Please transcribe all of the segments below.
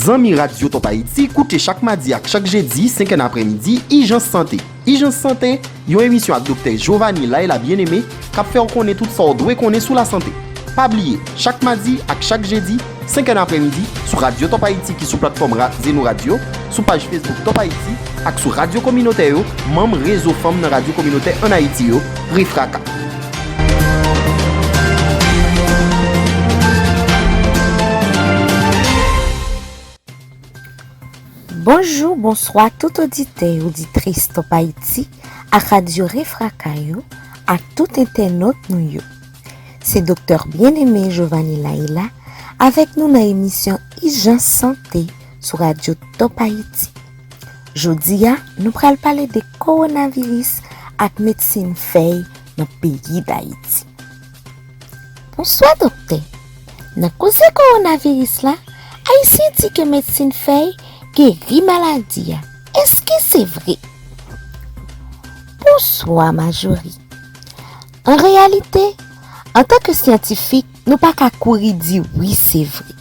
Zanmi Radyo Top Haïti, koute chak madi ak chak jedi 5 è nan apremidi, Ijans Sante. Ijans Sante, yon emisyon ak Doktè Jovanie Laila Bien-Aimé k ap fè w konnen tout sa w dwe konnen sou lasante. Pa bliye, chak madi ak chak jedi, senkè nan aprèmidi, sou radyo Top Haïti ki sou platfòm ra Zeno Radio, sou paj Facebook Top Haïti ak sou radyo kominotè yo, manm Rezo Fanm nan Radyo Kominotè ann Ayiti yo, Refraka. Bonjou, bonswa tout oditè, oditris Top Haïti ak Radio Refraka yo ak tout entènot nou yo. Se Doktè Bien-Aimé Jovany Laila avèk nou nan emisyon Ijans Sante sou Radio Top Haïti. Jodi a, nou pral pale de Kowonaviris ak medsin fèy nan peyi Dayiti. Bonswa doktè, nan koze kowonaviris la ayisyen di ke medsin fèy geri maladi a eske se vre? Bonswa Majorie. An reyalite, antan ke syantifik nou pa ka kouri di wi se vre.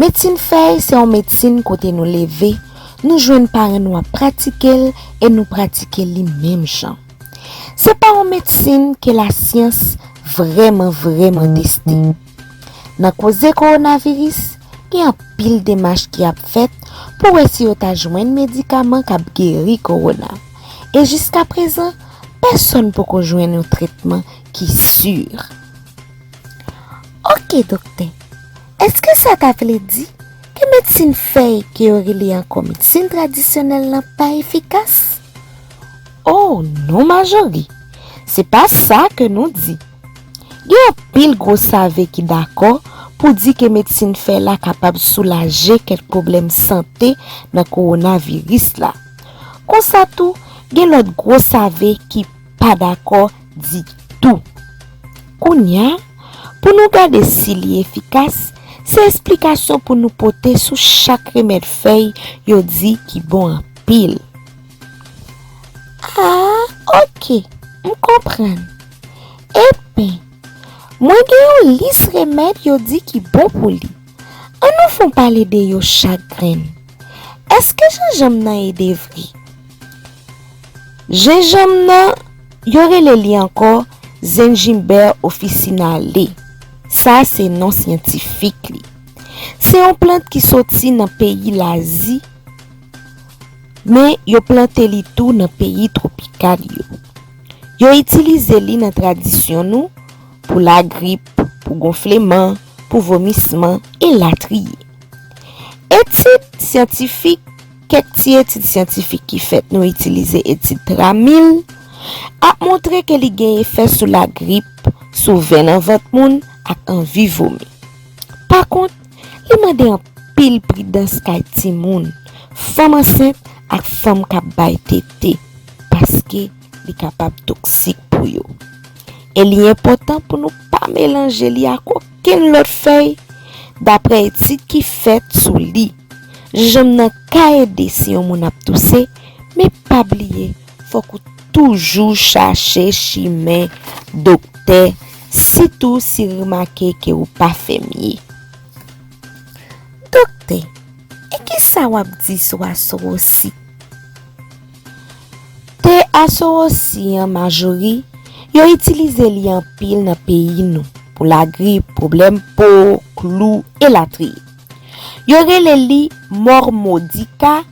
Medsin fèy se yon medsin kote nou leve nou jwenn paran nou ap pratike l e nou pratike li menm jan. Se pa yon medsin ke lasyans vreman vreman teste. Nan koze kowonaviris, gen anpil demach ki ap fèt pou wè si yo ta jwenn medikaman k ap geri kowona. E jiska prezan, pèsòn poko jwenn yon tretman ki sur. Ok doktè, eske sa ta vle di ke medsin fèy ke yo rele ankò medsin tradisyonèl lan pa efikas? Oh non Majorie, se pa sa ke nou di. Gen anpil gwo save ki dakò pou di ke medsin fè la kapab soulaje kèk pwoblèm sante nan kowonaviris la. Konsa tou, gen lòt gwo save ki pa dakò ditou. Kounya, pou nou gade si li efikas, se esplikasyon pou nou pote sou chak remèd fèy yo di ki bon anpil. pil. A, ok, m konprann. Enben, mwen gen yon lis remèd yo di ki bon pou li. An nou fon pale de yo chak grenn. Èske jenjanm nan ede vre? Jenjanm nan, yo rele li ankò Zingiber officinale. Sa a se non syantifik li. Se yon plant ki soti nan peyi Lazi. Men yo plante li tou nan peyi twopikal yo. Yo itilize li nan tradisyon nou pou lagrip, pou gonfleman, pou vomisman, e latriye. Etid syantifik, kèk ti etid syantifik ki fèt nou itilize etid tramil, ap montre ke li gen efè sou lagrip, sou venn anvant moun, ak anvi vomi. Pakont, Li mande anpil pridans kay timoun, fanm ansent ak fanm k ap bay tete paske li kapab toksik pou yo. E li enpòtan pou nou pa melanje li ak okenn lòt fèy daprè etid ki fèt sou li. Jenjanm nan ka ede si yon moun ap touse men pa bliye Fòk ou toujou chache chimen doktè sitou si remake ke ou pa fèmye. Doktè, e kisa wap di sou asorosi? Te asorosi an majori, yo itilize li anpil nan peyi nou pou lagrip, pwoblèm po, klou, elatriye. Yo rele li mormodika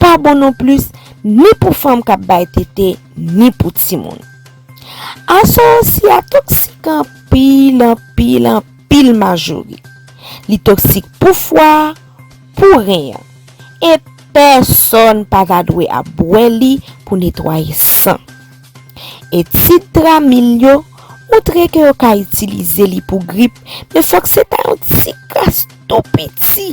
pa bon non plis ni pou fanm kap bay tete ni pou timoun. Asoyansi a toksik anpil anpil anpil majori. Li toksik pou fwa, pou ren an. E pèsòn pa ta dwe ap bwè li pou netwaye san. Etid Tramil yo montre ke yo ka itilize li pou grip men fòk se ta yon ti kras tou piti.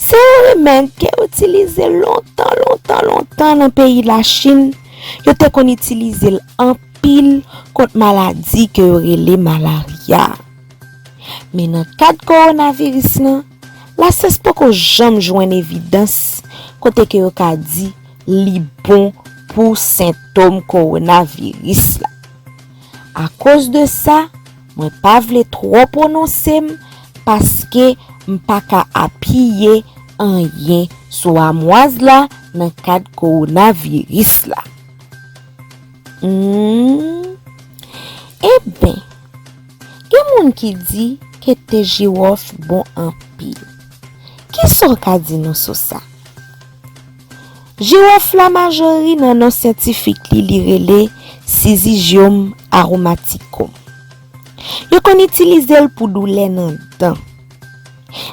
Se yon remèd ke yo itilize lontan, lontan, lontan nan peyi la Chin. Yo te kon itilize l anpil kont maladi ke yo rele malarya. Men nan kad kowonaviris lan, la syans poko janm jwenn evidans kote ke yo ka di li bon pou sentom kowonaviris la. Akoz de sa, Mwen pa vle twò pwononse m paske m pa ka apiye anyen sou amwaz la nan kad kowonaviris la. Humm. Enben, gen moun ki di ke te jiwòf bon anpil. Kisa w ka di nou sou sa? Girofla majori nan non syantifik li li rele Syzygium aromaticum. Yo konn itilize l pou doulè nan dan.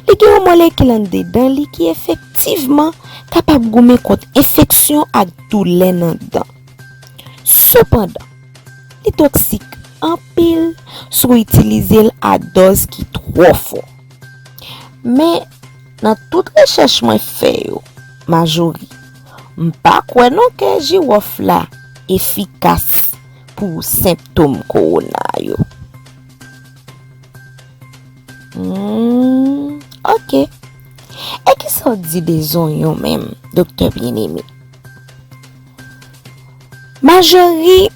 Li gen yon molekil andedan li ki efektivman kapab goumen kont enfeksyon ak doulè nan dan. Sepandan, li toksik anpil si w itilize l a dòz ki twò fò. Men, Nan tout rechèch mwen fè yo Majori m pa kwè non ke jiwòf la efikas pou senptom kowona yo. Humm ok. E kisa w di de zonyon menm Doktè Bien-Aimé? Majori,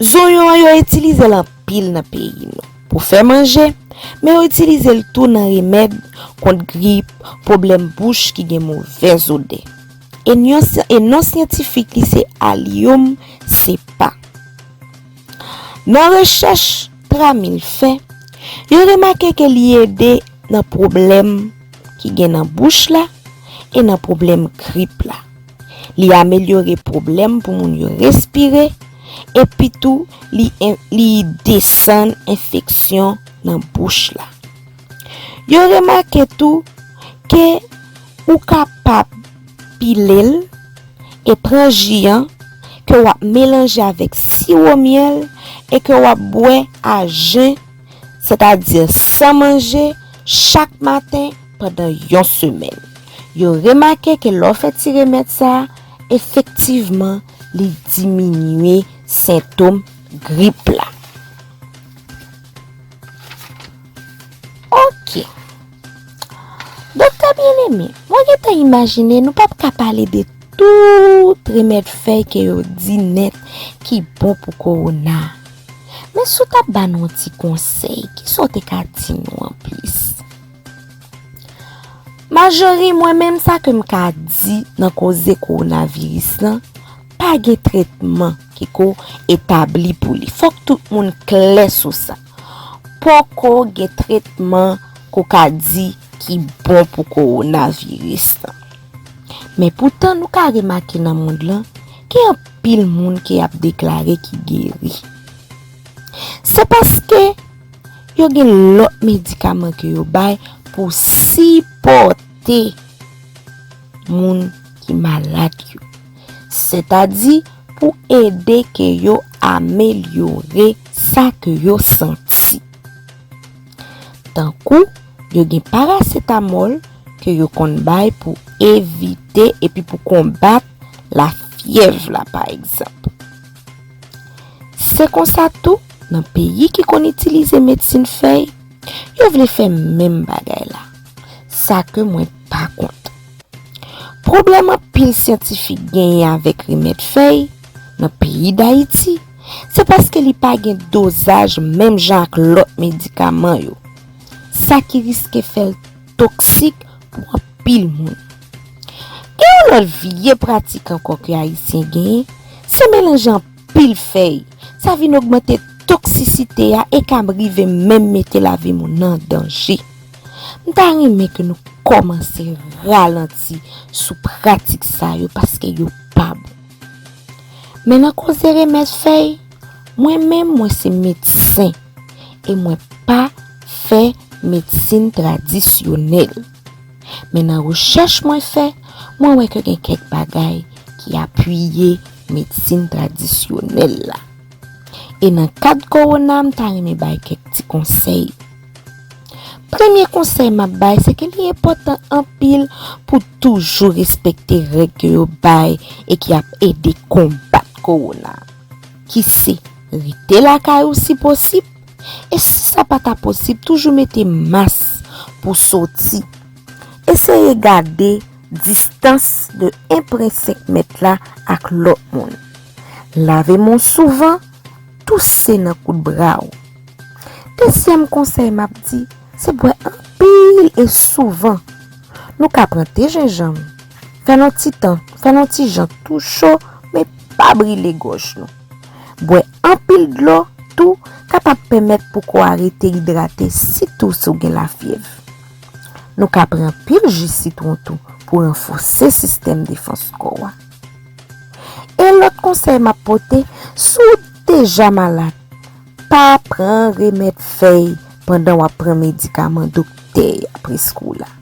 Zonyon an yo itilize l anpil nan peyi nou. Pou fè manje, men yo itilize l tou nan remèd kont grip, pwoblèm bouch ki gen movèz odè. E non syantifik li se Allium cepa. Nan rechèch Tramil fè, yo remake ke li ede nan pwoblèm ki gen nan bouch la e nan pwoblèm grip la. Li amelyore pwoblèm pou moun yo respire epi tou li desann enfeksyon nan bouch la. Yo remake tou ke ou kapab pile l e pran ji an ke w ap melanje avèk siwo myèl e ke w ap bwè a jen, sètadi san manje, chak maten. pandan yon semèn. Yo remake ke lè w fè ti remèd sa a, efektivman li diminye sentom grip la. Ok. Doktè byeneme, mwen gen tan imajine nou pap ka pale de tout remèd fèy ke yo di nèt ki bon pou kowona. Men si w t ap ba nou yon ti konsèy, kisa w te ka di nou anplis? Majori mwen menm sa ke m ka di nan koze kowonaviris lan, pa gen tretman ki ko etabli pou li. Fòk tout moun klè sou sa. Poko gen tretman ko ka di ki bon pou kowonaviris lan. Men poutan nou ka remake nan mond lan, gen anpil moun ke y ap deklare ki geri. Se paske. Yo gen lòt medikaman ke yo bay pou sipòte moun ki malad yo. Sètadi pou ede ke yo amelyore sa ke yo santi. Tankou, yo gen parasetamòl ke yo konn bay pou evite epi pou konbat lafyèv la pa egzanp. Se konsa tou, nan peyi ki konn itilize medsin fèy, yo vle fè menm bagay la. Sa ke mwen pa kont. Pwoblèm anpil syantifik genyen avèk remèd fèy, nan peyi Dayiti, se paske li pa gen dozaj menm jan ak lòt medikaman yo. Sa ki riske fè l. toksik pou anpil moun. Gen yon lòt vye pratik ankò ke Ayisyen genyen, se melanje anpil fèy. Sa vin ogmante toksisite a e ka rive menm mete lavi moun nan danje. M ta renmen ke nou kòmanse ralanti sou pratik sa yo paske yo pa bon. Men nan koze remèd fèy. Mwen menm mwen se medsen e mwen pa fè medsin tradisyonèl. Men nan rechèch mwen fè, mwen wè ke gen kèk bagay ki apiye medsin tradisyonèl la. E nan kad kowona m ta renmen bay kèk ti konsèy. Premye konsèy m ap bay se ke li enpòtan anpil pou toujou respekte règ ke yo bay e ki ap ede konbat kowona. ki se rete lakay ou si posib, e si sa pa ta posib toujou mete mas pou soti. Eseye gade distans de 1 pre 5 mèt la ak lòt moun. Lave men w souvan, touse nan kout bra w. Dezyèm konsèy m ap di, se bwè anpil e souvan. Nou ka pran te jenjanm, Fè n on ti tan, fè n on ti jan tou cho men pa brile gòj nou. Bwè anpil dlo tou kapab pèmèt pou kò a rete idrate sitou si w gen lafyèv. Nou ka pran pil ji sitwon tou pou ranfòse sistèm defans kò a. E lòt konsèy m ap pote, si w deja malad, pa pran remèd fèy pandan w ap pran medikaman doktè a preskri w la.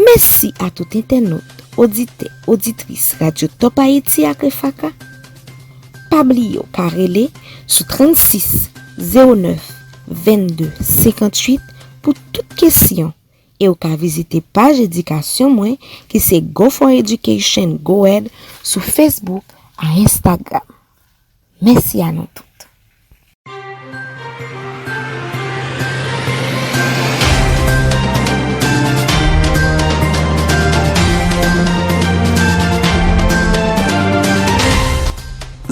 Mèsi a tout entènot, oditè, oditris Radyo Top Ayiti ak Refaka. Pa bliye w ka rele sou 36 09 22 58 pou tout kesyon e w ka vizite paj edikasyon mwen ki se Go4Education Go Ed sou Facebook a Instagram. Mèsi a nou tout.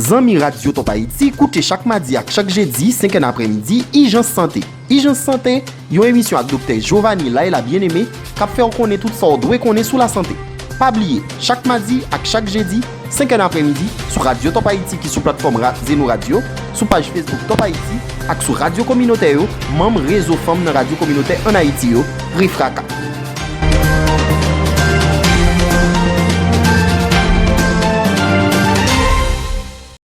Zanmi Radyo Top Haïti, koute chak madi ak chak jedi 5 è napremidi Ijans Sante. Ijans Sante, yon emisyon ak Doktè Giovani Laila Bien-Aimé k ap fè w konnen tout sa w dwe konnen sou lasante. Pa bliye, chak madi ak chak jedi, senkè nan aprèmidi, sou radyo Top Haïti ki sou platfòm ra Zeno Radio, sou paj Facebook Top Haïti ak sou radyo kominotè yo, manm Rezo Fanm nan Radyo Kominotè ann Ayiti yo, REFRAKA.